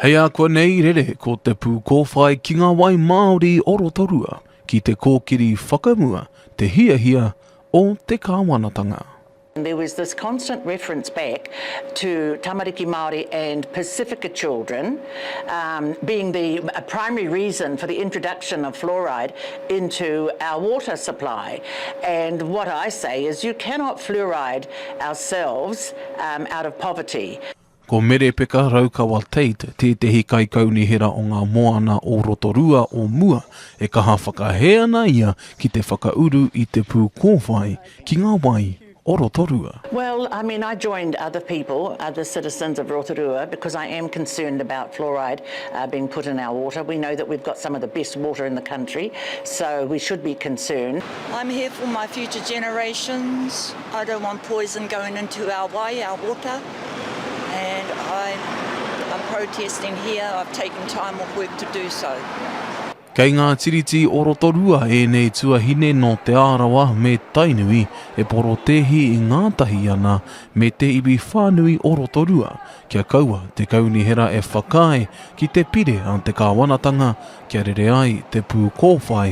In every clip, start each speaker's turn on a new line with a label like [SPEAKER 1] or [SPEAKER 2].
[SPEAKER 1] Hei ākuanei rere ko te pūkōwhai ki ngā wai māori o Rotorua ki te kōkiri whakamua te hiahia o te kāwanatanga. There was this
[SPEAKER 2] constant reference back to tamariki Māori and Pasifika children um being the primary reason for the introduction of fluoride into our water supply and what I say is you cannot fluoride ourselves out of poverty. Ko Merepeka
[SPEAKER 1] Raukawa Tate tētehi kaikaunihera o ngā moana o Rotorua o mua e kaha whakahē ana ia ki te whakauru i te pū kōwhai ki ngā wai o Rotorua. Well, I mean, I
[SPEAKER 2] joined other people, other citizens of Rotorua because I am concerned about fluoride being put in our water. We know that we've got some of the best water in the country, so we should be concerned. I'm here for my
[SPEAKER 3] future generations, I don't want poison going into our wai, our water, and I'm protesting here, I've taken time off work to do so. Kei ngā
[SPEAKER 1] tiriti o Rotorua ēnei tuahine nō Te Arawa me Tainui e porotēhi i ngātahi ana me te iwi whānui o Rotorua kia kaua te kaunihera e whakaae ki te pire a te kāwanatanga kia rere ai te pū kōwhai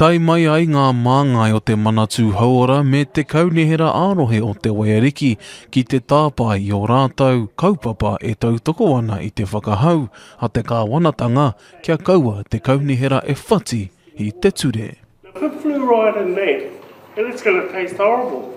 [SPEAKER 4] Tae mai
[SPEAKER 1] ai ngā māngai o te Manatū Hauora me te Kaunihera ā-Rohe o Te Waiariki ki te tāpae i ō rātou kaupapa e tautoko ana i te whakahau a te Kāwanatanga kia kaua te Kaunihera e whati i te ture. Put fluoride
[SPEAKER 5] in that and it's gonna taste horrible.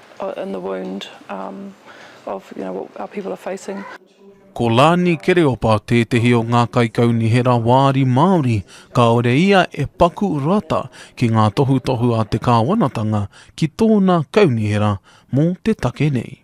[SPEAKER 6] in the wound of you know what our people are facing. Ko Lani
[SPEAKER 1] Kereopa tētehi o ngā kaikaunihera wāri Māori kāore ia e paku rata ki ngā tohutohu a te kāwanatanga ki tōna kaunihera mō te take nei.